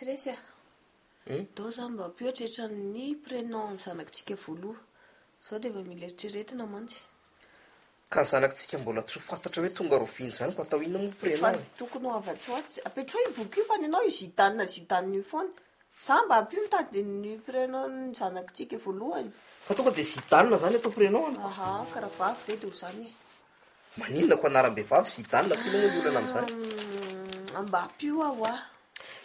Tsy resy a. Doo zany mba ampihoatrehitra ny prénom ny zanakitsika voaloha. Zao dia efa mila eritreretina mantsy. Ka zanakitsika mbola tsy ho fantatra hoe tonga roviana izany koa atao inona moa ny prénom e? Efa tokony ho afatsy ho atsy. Apetroy io boky io fa ny anao io Zidane Zidane io foana. Za mba ampio mitady ny prénom ny zanakitsika voalohany. Fa tonga dia Zidane izany atao prénom-ny? Aha, ka raha vavy ve dia ho izany e. Maninona ko anaram-behivavy sy idana foana moa ny olana amin'izany? Ahh mba ampio aho ah.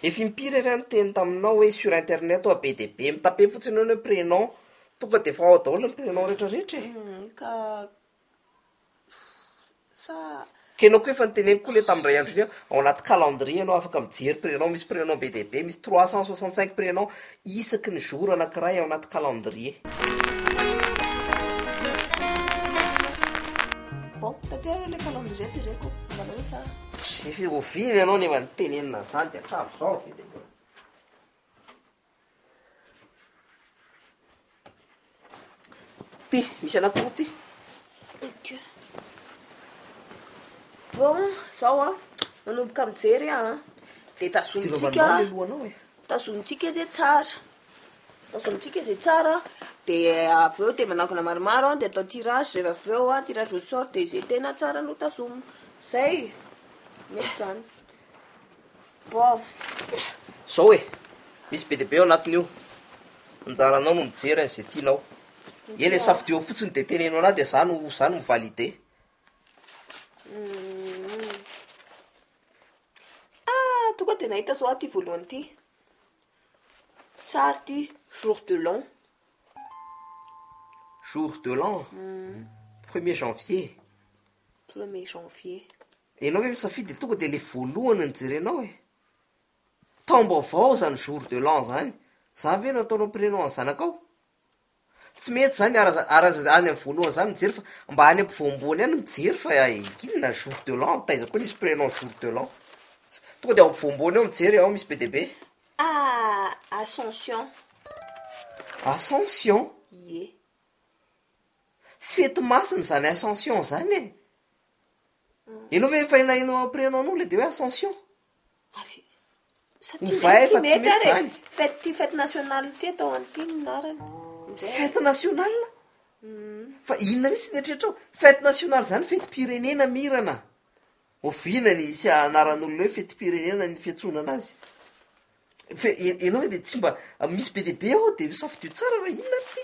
Efa impiry ary aho niteny taminao hoe sur internet oa be dia be mitape fotsiny eo ny hoe prénom. Tonga dia efa ao daholo ny prénom rehetra rehetra e. Humm ka sa. Ka ianao koa efa noteneniko koa le tamin'ny indray andro iny hoe ao anaty calendrier ianao afaka mijery prénom, misy prénom be dia be, misy trois cent soixante cinq prénoms. isaky ny jour anankiray ao anaty calendrier. Bon, taterina ilay calendrier jereko, hitanao hoe sa. Tsy oviana ianao nefa nitenenina an'izany dia hatramin'izao ve dia mbola. Ty, misy anà koa ty. Ok. Bon, zao an, manomboka mijery aho an, dia tazomintsika, tazomintsika izay tsara, tazomintsika izay tsara, dia avy eo dia manangona maromaro an, dia atao tirage, rehefa avy eo an, tirage au sort, dia izay tena tsara no tazomina, izay e, mety izany. Bon. Zao e, misy be dia be ao anatin'io. Anjaranao no mijery an'izay tianao. Eny e, safidio ao fotsiny dia teneno anah dia za no za no mi-valide. Ah, tonga dia nahita zao aho ity voalohany ity. Tsara ity, jour de l'an. Jour de l'an, premier janvier. Premier janvier. Enao ve misafidy ny tonga dia le voalohany ny jerenao e! Taom-baovao zany jour de l'an zany, zany ve no ataonao prénom an'ny zanakao? Tsy mety zany ara za- ara za- any am voalohany zany mijery fa mba any ampovoamboany any mijery fa ay inona jour de l'an, taiza koa nisy prénom jour de l'an? Tonga dia ao ampovoamboany ao mijery ao misy be dia be. Ah! Ascension. Ascension? Ie. Fety masina zany ascension zany e! Ianao ve efa ilay hainao après anao anao ilay dia hoe ascension? Avy satria Ny vay efa tsy mety izany. Fête ty fête nationale ty atao an'ity ny narany. Indray. Fête nationale? Fa inona mihitsy ny eritreritrao? Fête nationale izany fetim-pirenena Mirana a! Oviana ny hisy anaran'olona hoe fetim-pirenena ny fiantsoana anazy? Fe- i- ianao ve dia tsy mba misy be dia be ao dia safidio tsara raha inona ary ty?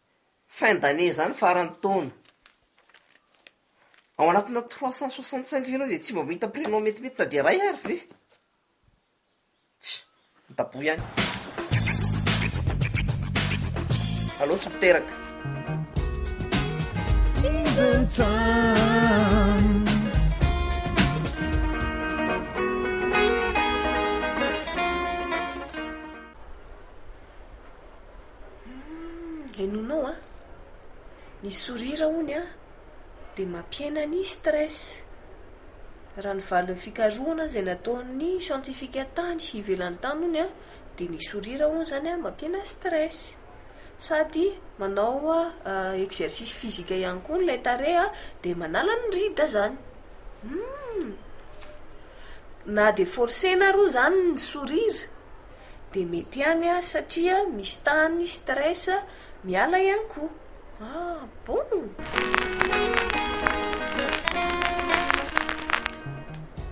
fin d'année zany faran'ny taona, ao anatina trois cent soixante cinq jours dia tsy mba mahita prénom metimety na dia iray ary ve? Tsia, midaboha ihany. Aleo tsy miteraka. Humm henoinao an! Ny sourire hono an dia mampihena ny stress. Raha ny valin'ny fikarohana izay nataon'ny siantifika tany ivelany tany hono an dia ny sourire hono izany an mampihena stress. Sady manao exercice physique ihany koa ilay tarehy an dia manala ny rides izany. Humm! Na dia forcer-na ary hono izany ny sourire Dia mety ihany an satria misy tahany stress miala ihany koa ah bon!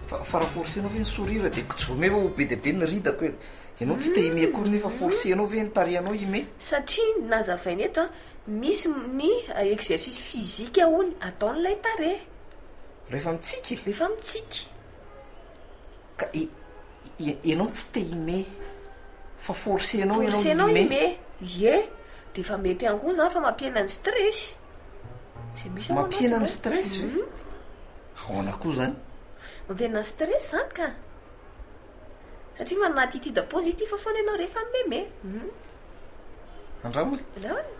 Fa raha forcer anao ve ny sourire dia kijomy eo ho be dia be ny ridako e! Ianao tsy te hime akory nefa forcer anao ve ny tarehinao hime? Satria ny nazavaina eto an, misy ny exercice physique hono ataon'ilay tarehy. Rehefa mitsiky? Rehefa mitsiky. Ka ianao tsy te hime fa forcenao ianao hime. Forcenao hime, ie, dia efa mety ihany koa izany fa mampihena ny stress. Izay misy ao anatinao. Mampihena ny stress ve? Ahoana koa izany? Mampihena ny stress izany ka! Satria manana attitude positif foana ianao rehefa mimeme. Andramo e! Andramo e!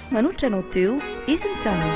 Manolotra anao teo izy mijanona.